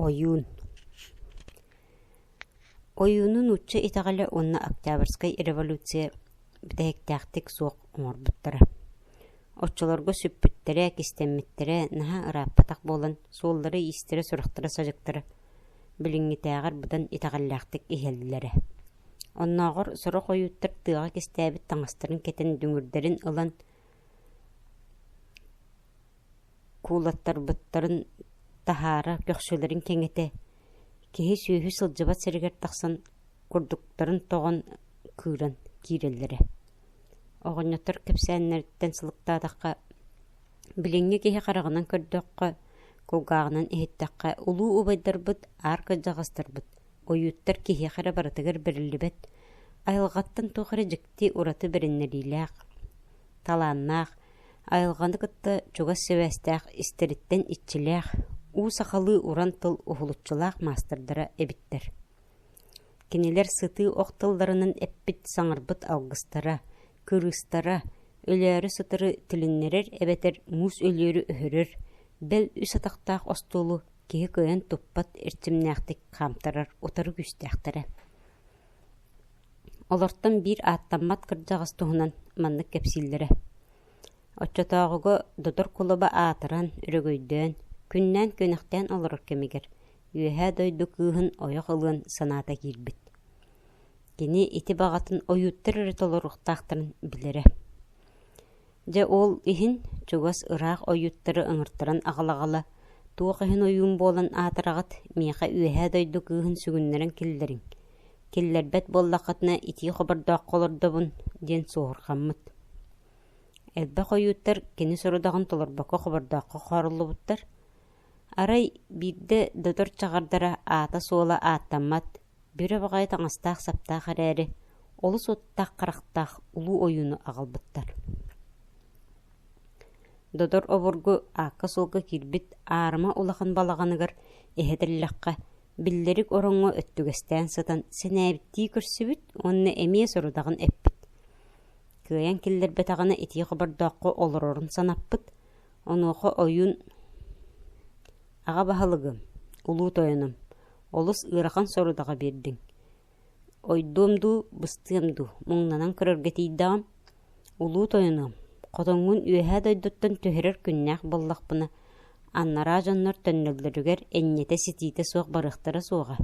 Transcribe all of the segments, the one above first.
Ойуун Ойууну нуучча итэҕэлэ уонна Октябрьскай революция бүтэһиктээхтик суох оҥорбуттара. Оччолорго сүппүттэрэ, кистэммиттэрэ наһаа ырааппатах буолан, суоллара-иистэрэ, сурахтара-садьыктара билиҥҥитээҕэр быдан итэҕэллээхтик иһэллэрэ. Оннооҕор сорох ойууттар тыаҕа кистээбит таҥастарын кэтэн, дүҥүрдэрин ылан Куулаттарбыттарын таһаара көхсүлэрин кэҥэтэ, киһи-сүөһү сылдьыбат сиригэр тахсан курдуктарын тоҕон кыыран киирэллэрэ Оҕонньоттор кэпсээннэриттэн сылыктаатахха, билиҥҥи киһи хараҕынан көрдөххө, кулгааҕынан иһиттэххэ, улуу убайдарбыт, аар кырдьаҕастарбыт, ойууттар киһиэхэ эрэ барытыгар бэриллибэт, айылҕаттан туох эрэ дьикти ураты бэриннэриилээх талааннаах, айылҕаны кытта чугас сибээстээх истэриттэн иччилээх, уу сахалыы уран тыл уһулуччулаах маастардара эбиттэр. Кинилэр сытыы ох тылларынан эппит саҥарбыт алгыстара, кырыыстара, өлөөрү сытары түлүннэрэр эбэтэр муус өлүөрү өһөрөр, бэл үс атахтаах остуолу киһи кыайан туппат эрчимнээхтик хаамтарар утары күүстээхтэрэ. Олортон биир ааттаммат кырдьаҕас туһунан маннык кэпсииллэрэ: оччотооҕуга Дотор кулаба аатыран, өрөгөйдөөн, күннээн-күнэхтээн олорор кэмигэр Үөһээ Дойду кыыһын ойох ылыан санаата киирбит. Кини ити баҕатын ойууттар эрэ толоруохтаахтарын билэрэ Дьэ ол иһин чугас ыраах ойуттары ыҥыртаран аҕалаҕала, туох иһин ойуун буолан аатыраҕыт, миэхэ үөһээ дойду кыыһын сүгүннэрэн киллэриҥ, киллэрбэт буоллаххытына итии хобордооххо олордобун» диэн суоһурҕаммыт. Элбэх ойууттар кини сорудаҕын толорбокко хобордооххо хооруллубуттар. Арай биирдэ Дотор чаҕардара аата-суола ааттаммат, Бүрэ баҕайы таҥастаах-саптаах эрээри, олус уоттаах-харахтаах улуу ойууну аҕалбыттар Додор обургу аакка-суолга киирбит аарыма улахан балаҕаныгар иһэтиллэххэ, биллэрик ороҥҥо өттүгэстээн сытан сэнээбиттии көрсүбүт уонна эмиэ сорудаҕын эппит. Кыайан киллэрбэтэҕинэ итии хобордооххо олорорун санаппыт, онуоха ойуун Аҕа баһылыгым, улуу тойонум, олус ыарахан сорудаҕы биэрдиҥ. Ойдуом дуу, быстыам дуу, муҥнанан көрөргө тиийдэҕим. Улуу тойонум, хотоҥҥун үөһээ дойдуттан түһэрэр күннээх буоллахпына, аннараа дьоннор төннөллөрүгэр энньэтэ-ситиитэ суох барыахтара суоҕа.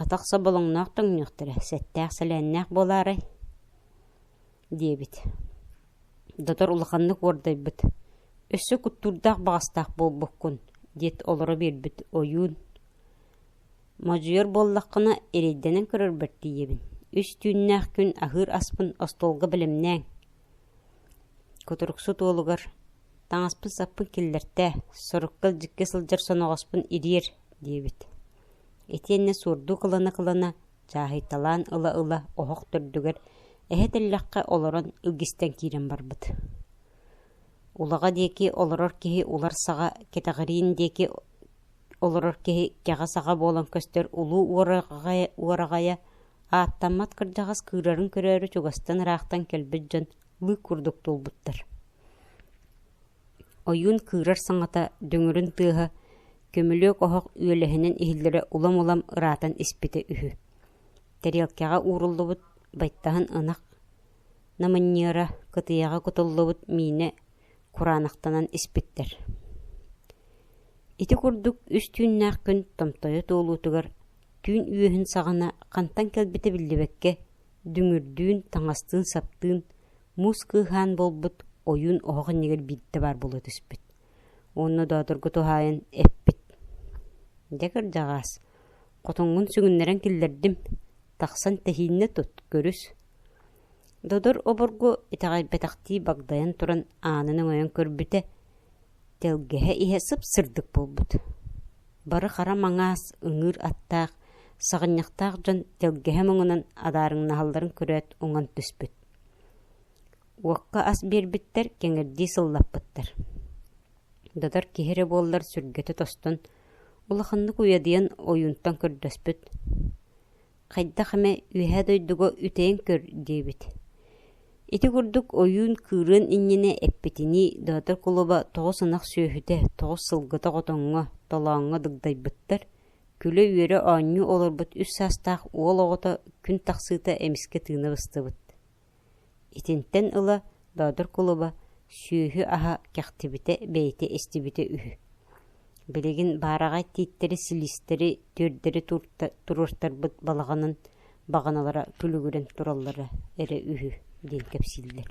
Атах соболоҥноох тоҥнуохтара, сэттээх-сэлээннээх буолаарай диэбит Дотор улаханнык уордайбыт «Өссө куттуурдаах баҕастаах буолбуккун» диэт олоро биэрбит ойуун «Модьуйар буоллаххына, эрэйдэнэн көрөрбөр тиийэбин. Үс түүннээх күн аһыыр аспын остуолга бэлэмнээҥ» Кутуруксут уолугар «Таҥаспын-саппын киллэртээ, сорукка илдьиккэ сылдьар соноҕоспун ириэр» диэбит. Итиэннэ суордуу кылана-кылана Чааһыйталаан ыла-ыла оһох төрдүгэр, эһэ тэллэххэ олорон илгистэн киирэн барбыт Улаҕа диэки олорор киһи улар саҕа, кэтэҕириин диэки олорор киһи кэҕэ саҕа буолан көстөр улуу уораҕайа, уораҕайа ааттаммат кырдьаҕас кыырарын көрөөрү чугастан ыраахтан кэлбит дьон лыык курдук туолбуттар Ойуун кыырар саҥата, дүҥүрүн тыаһа, көмүлүөк оһох үөлэһинэн иһиллэрэ улам-улам ыраатан испитэ үһү. Тэриэлкэҕэ ууруллубут байтаһын ынах, намынньыара, кытыйаҕа кутуллубут миинэ кураанахтанан испиттэр Ити курдук үс түүннээх күн томтойо туолуутугар түүн үөһүн саҕана хантан кэлбитэ биллибэккэ Дүҥүрдүүн, таҥастыын-саптыын, муус кыыһаан буолбут ойуун оһох иннигэр биирдэ баар буола түспүт. Уонна Боотурга туһаайан эппит: «Дьэ, кырдьаҕаас, хотуҥҥун сүгүннэрэн киллэрдим, тахсан тэһииннэ тут, көрүс». Додор обургу итэҕэйбэтэхтии багдайан туран аанын өҥөйөн көрбүтэ, Тэлгэһэ иһэ сып-сырдык буолбут, бары хара маҥаас, ыҥыыр аттаах, саҕынньахтаах дьон тэлгэһэ муҥунан адаарыҥнаһалларын көрөөт уҥан түспүт. Уокка ас биэрбиттэр кэҥирдии сыллаппыттар. Додор киһи эрэ буоллар сүргэтэ тостон, улаханнык уйадыйан ойуунтан көрдөспүт: хайдах эмэ үөһээ дойдуга үтэйэн көр диэбит ити курдук ойуун кыырыан иннинэ эппитинии доотор кулуба тоҕус ынах сүөһүтэ тоҕус сылгыта хотоҥҥо толооҥҥо дыгдайбыттар күлэ-үөрэ оонньуу олорбут үс саастаах уол оҕото күн тахсыыта эмискэ тыына быстыбыт Итинтэн ыла Боодур кулуба сүөһү аһа кэхтибитэ бэйэтэ истибитэ үһү Билигин баараҕай тииттэри-силистэри түөрдэри туруортарбыт балаҕанын баҕаналара күлүгүрэн тураллара эрэ үһү диэн кэпсииллэр